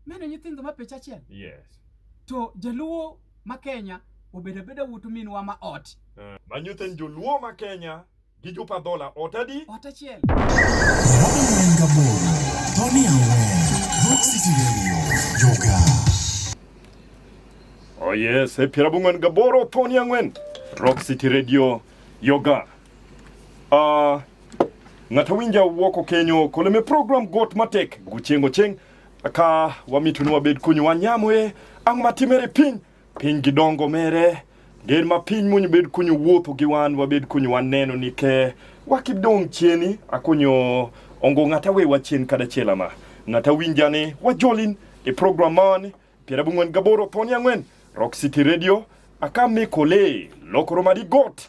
Mano nyithindo ma pech achiel. Yes. To jaluo ma Kenya obedo abeda wuoto minwa ma ot. Uh, ma nyithind joluo ma Kenya gi chupa dhola ot adi ot achiel Oh yes, e piero abung'wen gaboro thoni ang'wen Rock City Radio Yoga. Uh, ng'ato winja wuoko kenyo koleme program got matek guchengo cheng ka wamituni wabed kunyu wanyamoe ang' matimere piny Piny gi dongo mere, ger ma piny munyo bed kunyo wuotho gi wan wabed kunyo waneno ni ke wakidong chieni akunyo ongo ng'ata we wachien kada chiela ma ng'ata winja ni wajolin e program mani piera bung'wen gaboro thoni ang'wen Rock City Radio akamikole lokoro madi got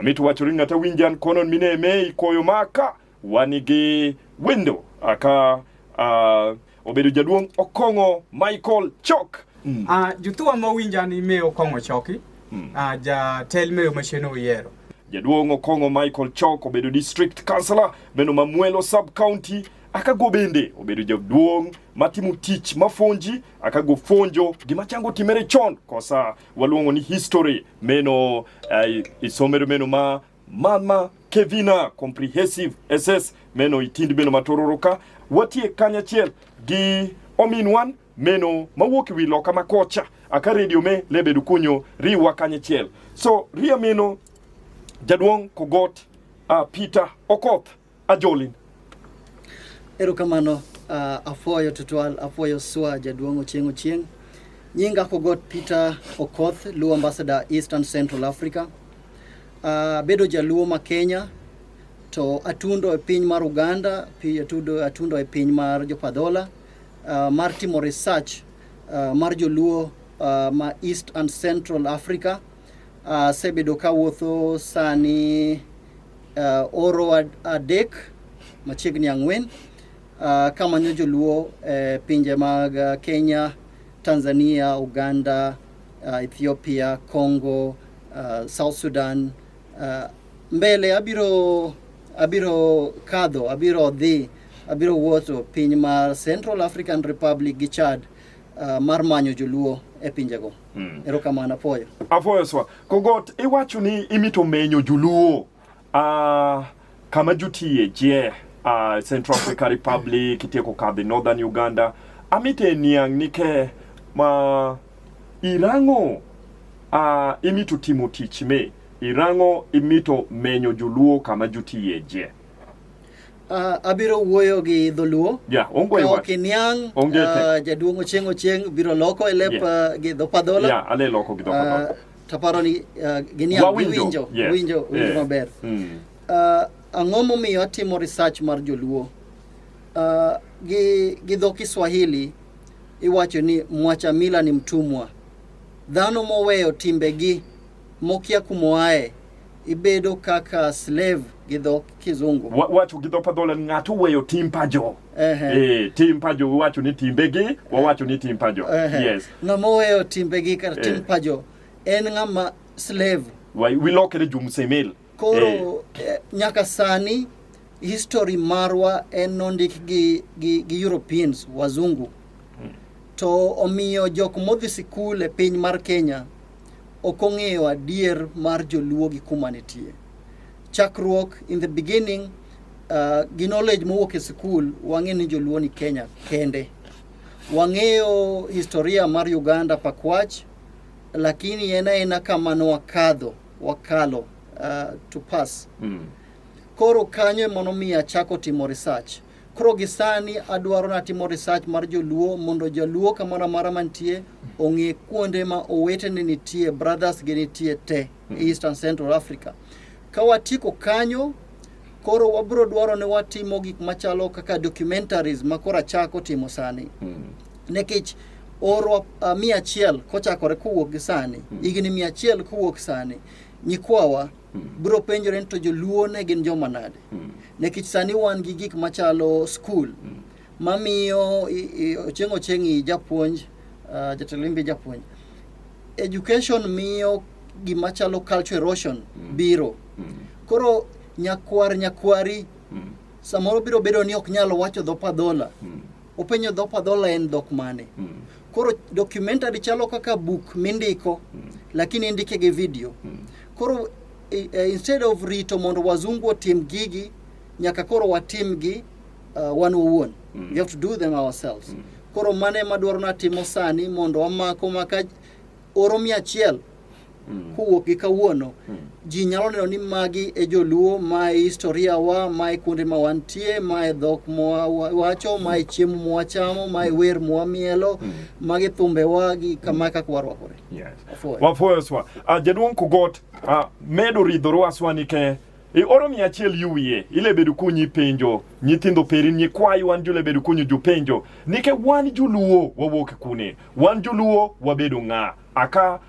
Amit wacho ni ng'ata winjan konon mine me ikoyo maka wanigi wendo aka uh, obedo jaduong' Okong'o Michael Chok. Mm. Uh, ah, juthuwa ma winja ni me Okong'o Choki mm. uh, ah, jatel meyo macheno oyiero jaduong' Okong'o Michael Chok obedo district councillor meno ma Mwelo sub county akago bende obedo jaduong' matimo tich mafonji akago fonjo gima chango timere chon kosa waluongo ni history meno uh, eh, isomero meno ma mama kevina comprehensive ss meno itindi meno matororo ka watie kanyachiel gi omin wan meno mawuok wi loka makocha aka redio me lebedo kunyo riwa kanyachiel so ria meno jaduong kogot uh, peter okoth Ajolin. Erokamano uh, ah, afoyo tutual afoyo swa jaduong' ochieng' ochieng' nyinga kogot Peter Okoth Luo Ambassador Eastern Central Africa uh, bedo jaluo ma Kenya to atundo e piny mar Uganda atudo, atundo e piny mar Jopadhola uh, ah, mar timo research uh, mar joluo uh, ma East and Central Africa Asebedo ka wuotho sani uh, oro adek machiegni ang'wen uh, kamanyo joluo e uh, pinje mag uh, Kenya, Tanzania, Uganda, uh, Ethiopia, Congo, uh, South Sudan uh, mbele abiro abiro kadho abiro dhi abiro wuotho piny mar Central African Republic gi Chad uh, mar manyo joluo e pinjego. Mm. Erokamano apoyo. Apoyo swa. Kogot iwacho ni imito menyo joluo. Uh, kama jutie je uh, Central Africa Republic itieko kadhi Northern Uganda amite niang' nike ma irango uh, imito timo tich me irango imito menyo joluo kama jutie je. Uh, abiro wuoyo gi dholuo yeah, ka ok iniang' uh, jaduong' ochieng' ochieng' biro loko e lep yeah. uh, gi dhopadhola yeah, ale loko gi dhopadhola uh, taparo ni uh, giniang' giwinjo yes. winjo winjo yeah. maber mm. uh, ang'o momiyo atimo research mar joluo uh, gi, gi dho kiswahili iwacho ni mwacha mila ni mtumwa dhano moweyo timbegi mokia kumoaye ibedo kaka slave gi dho kizungu Wa- wacho gi dho padhola ni ng'ato weyo tim pajo Ehe. Eh, tim pajo wawacho ni timbegi wawacho ni tim pajo Ehe. yes ng'ama oweyo timbegi kata Eh. tim pajo en ng'ama slave Wa- wilokre jumsemel koro eh, nyaka sani history marwa en nondik gi, gi, gi europeans wazungu to omiyo jok modhi sikul e piny mar kenya ok ong'eyo adier mar joluo gi kuma nitie chakruok in the beginning uh, gi knowledge mowuok e sikul wang'e ni joluo ni kenya kende wang'eyo historia mar uganda pakwach lakini en aena kama ne wakadho wakalo uh, to pass Mm. koro kanyo emonomiyo achako timo research Koro gi sani adwaro natimo research mar joluo mondo jaluo kamoro amora mantie ong'e kuonde ma owetene nitie brothers gi nitie te hmm. East and Central Africa. Ka watieko kanyo koro wabro dwaro ni watimo gik machalo kaka documentaries ma koro achako timo sani hmm. nikech orwa uh, mia achiel kochakore kowuok gi sani hmm. higni mia achiel kowuok sani nyikwawa Hmm. Bro penjore ni to joluo ne gin joma nade? Hmm. Nikech sani wan gi gik machalo skul hmm. mamiyo ocheng' ocheng' i japuonj uh, jatelo imbe japuonj. Education miyo gima chalo culture erosion hmm. biro. Hmm. Koro nyakwar nyakwari hmm. samoro biro bedo ni ok nyal wacho dho padhola. Hmm. Upenyo dhop adhola en dhok mane? Mm. Koro documentary chalo kaka book mindiko mm. lakini indike gi video. Mm. Koro uh, instead of rito mondo wazungu otim gigi nyaka koro watim gi uh, wan wawuon. Mm. We have to do them ourselves. Mm. Koro mane madwaro natimo sani mondo wamako maka oro mia achiel Mm. kowuok gi kawuono mm. ji nyalo neno ni magi e joluo mae historia wa mae kuonde ma wantie mae dhok mwawacho mm. mae chiemo mwachamo mae mm. wer mwamielo mm. magi thumbewa gi kama kaka warwakore yes. wafoyo swa uh, jaduong' kugot uh, medo ridhoru aswani ke e oro mia achiel yuwie ilebedo kunyi penjo nyithindo peri ni kwayi wan julebedo kunyi jupenjo nike wan juluo wawuok kune wan juluo wabedo ng'a aka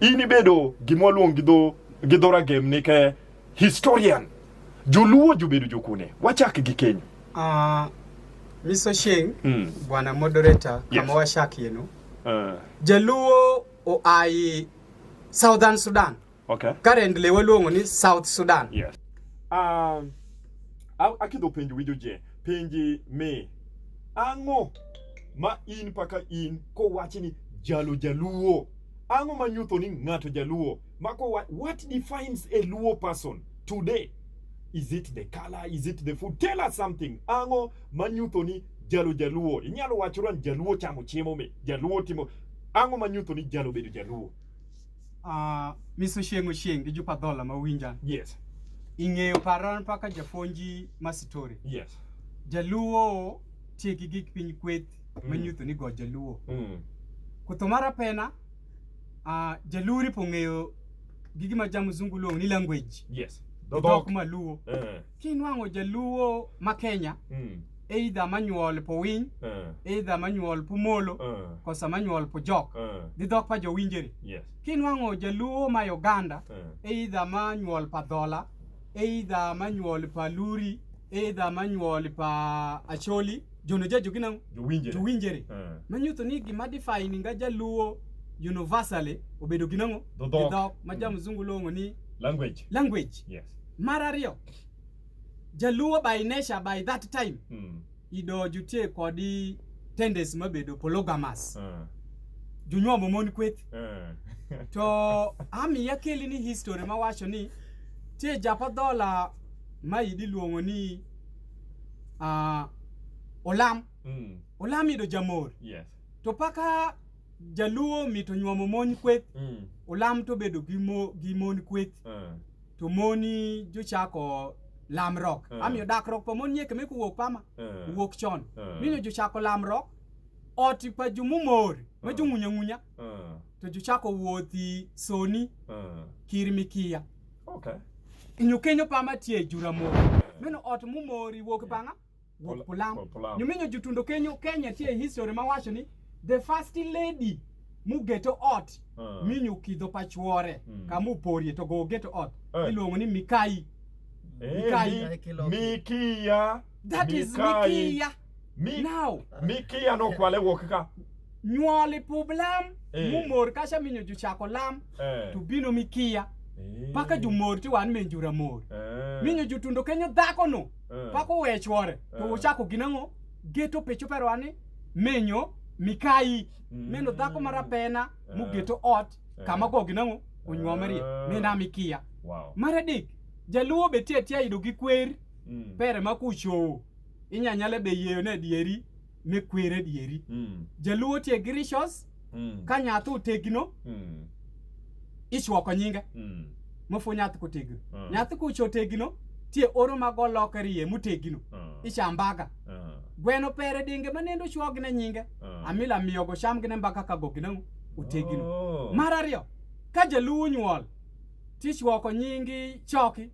in ibedo gima waluong gi dho gi dho ragem ni ke historian joluo jobedo jokune wachak gi keny Ah, Miss Ochieng, Mm. bwana moderator, Yes. kama washakieno. uh, Jaluo oai Southern Sudan. okay Currently waluongo ni South Sudan. yes um, a- akidho penj winjo je penji mi ang'o ma in paka in kowachi ni jalo jaluo Ang'o ma nyutho ni ng'ato jaluo? Mako what, what defines a Luo person today? Is it the color? Is it the food? Tell us something. Ang'o ma nyutho ni jalo jaluo? Inyalo wacho ran jaluo chamo chiemo me, jaluo timo ang'o ma nyutho ni jalo bedo jaluo? Ah, uh, Miss Oshieng Oshieng gi Jupa Dhola ma winja. Yes. Ing'eyo paran paka jafonji masitori. Yes. Jaluo tiegi gik piny kweth ma mm. nyutho ni go jaluo mm. kutho mar apena uh, jaluo ripo ng'eyo gi gima ja mzungu luongo ni language yes. dhok maluo uh. Eh. kinwang'o jaluo ma kenya mm. eidha manyuol po winy uh. Eh. eidha manyuol po molo uh. Eh. kosa manyuol po jok uh. dhi dhok pa jowinjeri yes. kinwang'o jaluo ma uganda uh. eidha manyuol pa dhola eidha manyuol pa luri eidha manyuol pa acholi Jono ja jogi nang'o? Jowinjere. Jowinjere. Eh. Manyiso ni gima define nga jaluo universally obedo gi nang'o? Dho dhok. Gi dhok ma ja mzungu luongo ni Language. language. Yes. Mar ariyo, jaluo by nature by that time Mm. idojutie kodi tendency mabedo polygamous. Eh. Jonyuomo mon kweth. Eh. To ami akeli ni history mawacho ni tie japo dhola ma idi luongo ni uh, olam mm. olam ido jamor yes. to paka jaluo mito nyuomo mon kweth mm. olam to bedo gi, mo, gi mon kweth uh. to moni jochako lamrok uh. Eh. amiyo dakruok pa mon nyeke meko wuok pama uh. Eh. wuok chon uh. Eh. mino jochako lamrok ot pa jumumor uh. ma jung'unyang'unya uh. to jochako wuothi soni mm. kir mikiya okay. nyokenyo pama tie jura moro mm. meno ot mumori wuok bang'a wuok pulam nyominyo jutundo kenyo kenya tie history mawacho ni the first lady mugeto ot mm. minyo kidho pachuore mm. kamuporie to go geto ot hey. Eh. iluongo ni mikai hey, eh, mikai mikiya that mikai. is mikiya mi now mi kiya no kwale wo kaka nyuol publam Eh. mumor kasha minyo juchako lam eh to bino mi kiya Eh. paka jumor ti wan min jura mor eh minyo jutundo kenyo dhako no eh. paka owe chwore to Eh. uchako ginang'o geto pichu pero ani minyo mikayi Mm. meno dhako marapena Eh. mugeto ot Eh. kama go ginang'o onyuomerie Eh. mina mikiya wow mar adek jaluo be tie tie yudo gi kwer mm. pere ma kuchowo inya nyale be yeyo ne dieri me kwere dieri mm. jaluo tie grishos mm. ka nyathi otegno mm. ichwoko nyinge mm. mofu nyathi kotegno mm. nyathi kucho tegno tie oro mago loke riye mutegno mm. ichambaga mm. gweno pere dinge manendo chwog ne nyinge mm. amila miyo go sham gine mbaka ka gogina utegno oh. marario ka jaluo nyuol tichwoko nyingi choki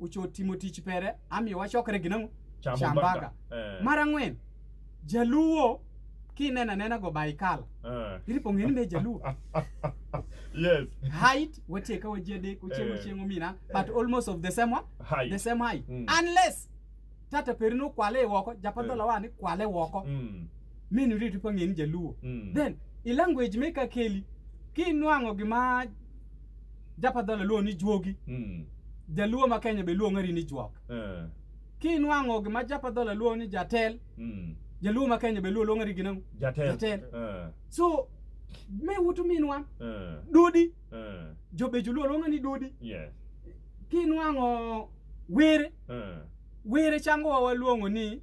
ocho timo tich pere amiyo wachokre gi nang'o chambaka eh. mar ang'wen jaluo kinena nena go baikal eh. iripo ng'eni ne jaluo yes height watieka waji adek ochieng' eh. ochieng' omina but eh. almost of the same one height. the same height mm. unless tata perino kwale woko japadhola eh. wani kwale woko mm. mini iripo ng'eni jaluo mm. then i language meka keli kinwang'o gima Japadhola luongo ni juogi. Mm. Jaluo ma Kenya be luongo ni juok. Eh. Kinwang'o gima Japadhola luongo ni jatel. Mm. Jaluo ma Kenya be luongo ni ginang. Jatel. Jatel. Eh. So me wutu minwa. Eh. Dudi. Eh. Jobejo luo luongo ni dudi. Yes. Kinwang'o were. Eh. Were chango waluongo ni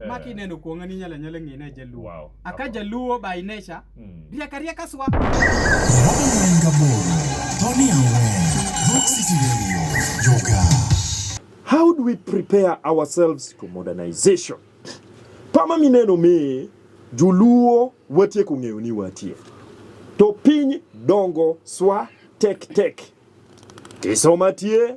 Eh. ma kineno kuong'a ni inyalo anyala ng'e ni ajaluo Wow. a ka jaluo by nature Mm. riek ariek aswa How do we prepare ourselves to modernization? Pama mineno me joluo watieko ng'eyo ni watie. To piny dongo swa tek tek. Kisoma tie,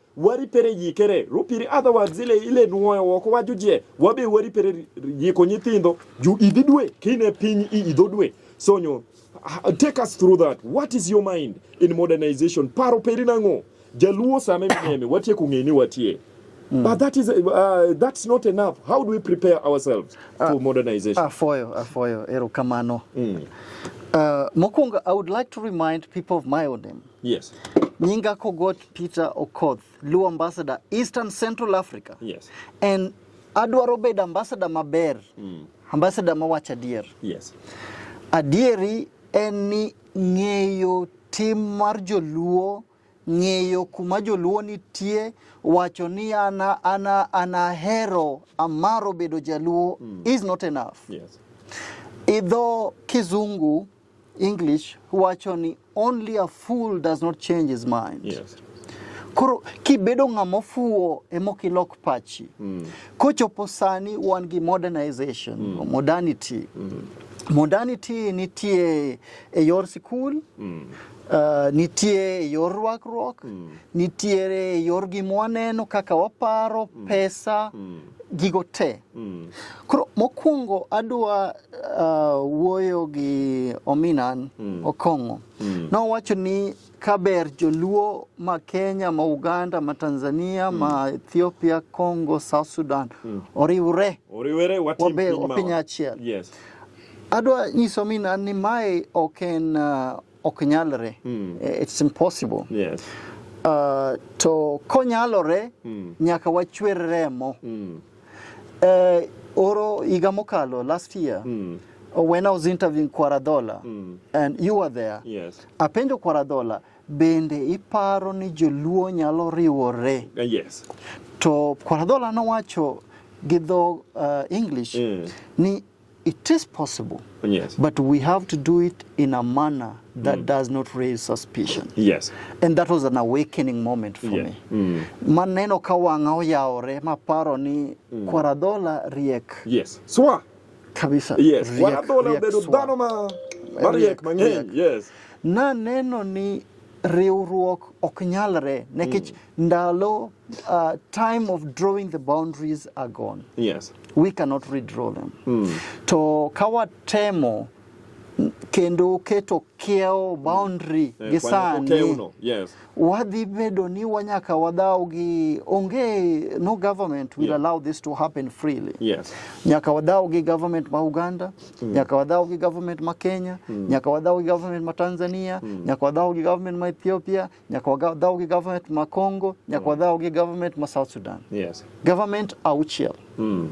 wari pere yikere rupiri adha wa zile ile nuoyo woko wa jujie wabe wari pere yiko nyithindo ju idhi dwe kine piny i idho dwe sonyo take us through that what is your mind in modernization paro peri nango jaluo same mnyeme watie kungeni watie Mm. But that is, uh, that's not enough. How do we prepare ourselves uh, ah, to modernization? Afoyo, ah, afoyo, ah, erokamano. Mm. Uh, Mokwongo, I would like to remind people of my own name. Yes. Nyinga Kogot Peter Okoth, Luo Ambassador, Eastern Central Africa. Yes. And adwaro bedo ambassador maber. Mm. Ambassador mawach adier. Yes. Adieri en ni ng'eyo tim mar joluo ng'eyo kuma joluo nitie wacho ni ana ana anahero amaro bedo jaluo mm. is not enough yes. idho kizungu English wacho ni only a fool does not change his mind. Yes. Koro kibedo ng'ama ofuwo ema ok ilok pachi. Mm. Kochopo sani wan gi modernization, mm. modernity. Mm. Modernity nitie e yor sikul, mm. uh, nitie e yor rwakruok, mm. nitiere e yor gima waneno kaka waparo, mm. pesa, mm. gigo te. Mm. Koro mokwongo adwa uh, wuoyo gi Ominan mm. Okong'o mm. nowacho ni kaber joluo ma Kenya ma Uganda ma Tanzania mm. ma Ethiopia Congo South Sudan mm. oriwre oriwre watim piny achiel yes. Adwa nyiso Ominan ni mae ok en uh, ok nyalre mm. Eh, it's impossible yes. Uh, to konyalore mm. nyaka wachwer remo mm. uh, oro higa mokalo last year mm. when I was interviewing Kwaradola mm. and you were there yes. apenjo Kwaradola bende iparo ni joluo nyalo riwore uh, yes. to Kwaradola nowacho gi dho uh, English mm. ni It is possible. Yes. But we have to do it in a manner that mm. does not raise suspicion. Yes. And that was an awakening moment for yeah. me. Mm. Maneno kawanga oyaore maparo ni mm. Kwaradola riek. Yes. Swa. Kabisa. Yes. Riek, Kwaradola obedo dhano ma mariek mang'eny. Yes. Na neno ni riwruok ok nyalre nekech mm. ndalo uh, time of drawing the boundaries are gone yes. we cannot redraw them mm. to kawatemo kendo keto kiewo mm. boundary mm. gi sani yes. wadhi bedo ni wanyaka wadhaw gi onge no government will yeah. allow this to happen freely yes. nyaka wadhaw gi government ma Uganda mm. nyaka wadhaw gi government ma Kenya mm. nyaka wadhaw gi government ma Tanzania mm. nyaka wadhaw gi government ma Ethiopia nyaka wadhaw gi government ma Congo nyaka mm. wadhaw gi government ma South Sudan yes. government auchiel mm.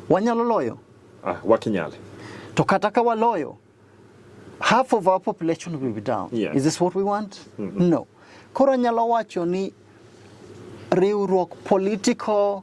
wanyalo loyo ah, wakinyale to kata ka waloyo half of our population will be down yes. is this what we want mm -hmm. no koro anyalo wacho ni riwruok political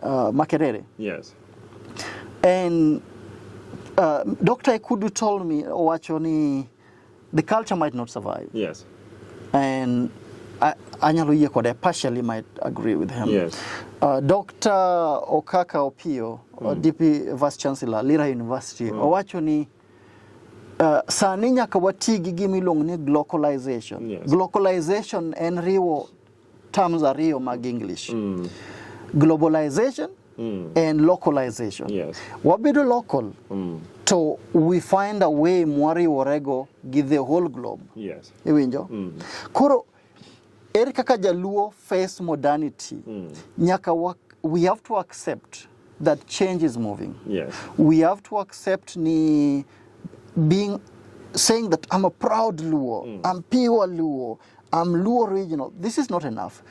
uh, Makerere. Yes. And uh, Dr. Ekudu told me, Owachoni, the culture might not survive. Yes. And anyalo yie kode partially might agree with him yes. uh, Dr. Okaka Opio uh, mm. DP Vice Chancellor Lira University mm. owacho ni uh, sani nyaka wati gi gima iluongo ni globalization yes. globalization en riwo terms ariyo mag English mm. globalization mm. and localization yes. wabedo local mm. to we find a way mwariworego gi the whole globe yes. iwinjo mm. koro ere kaka jaluo face modernity mm. nyaka wa, we have to accept that change is moving yes. we have to accept ni being saying that I'm a proud Luo, mm. I'm pure Luo, I'm Luo original. This is not enough.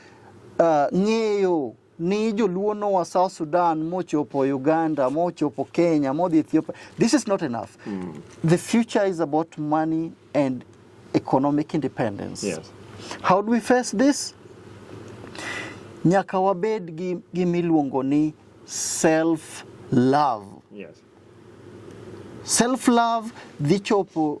Uh, ng'eyo ni joluo noa South Sudan mochopo Uganda mochopo Kenya modhi Ethiopia. This is not enough. Mm. The future is about money and economic independence. Yes. How do we face this? Nyaka wabed gi gimiluongo ni self love. Yes. Self love dhi chopo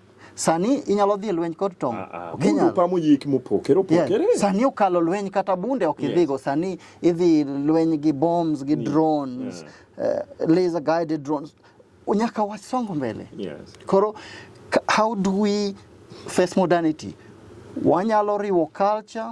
Sani inyalo dhi lweny kod tong'. Ah, ah. Ok inyal. Pamo yik mopokere opokere. Yeah. Sani okalo lweny kata bunde ok idhigo. Yes. Sani idhi lweny gi bombs gi drones, yeah. uh, laser guided drones. Unyaka wasongo mbele. Yes. Koro how do we face modernity? Wanyalo riwo culture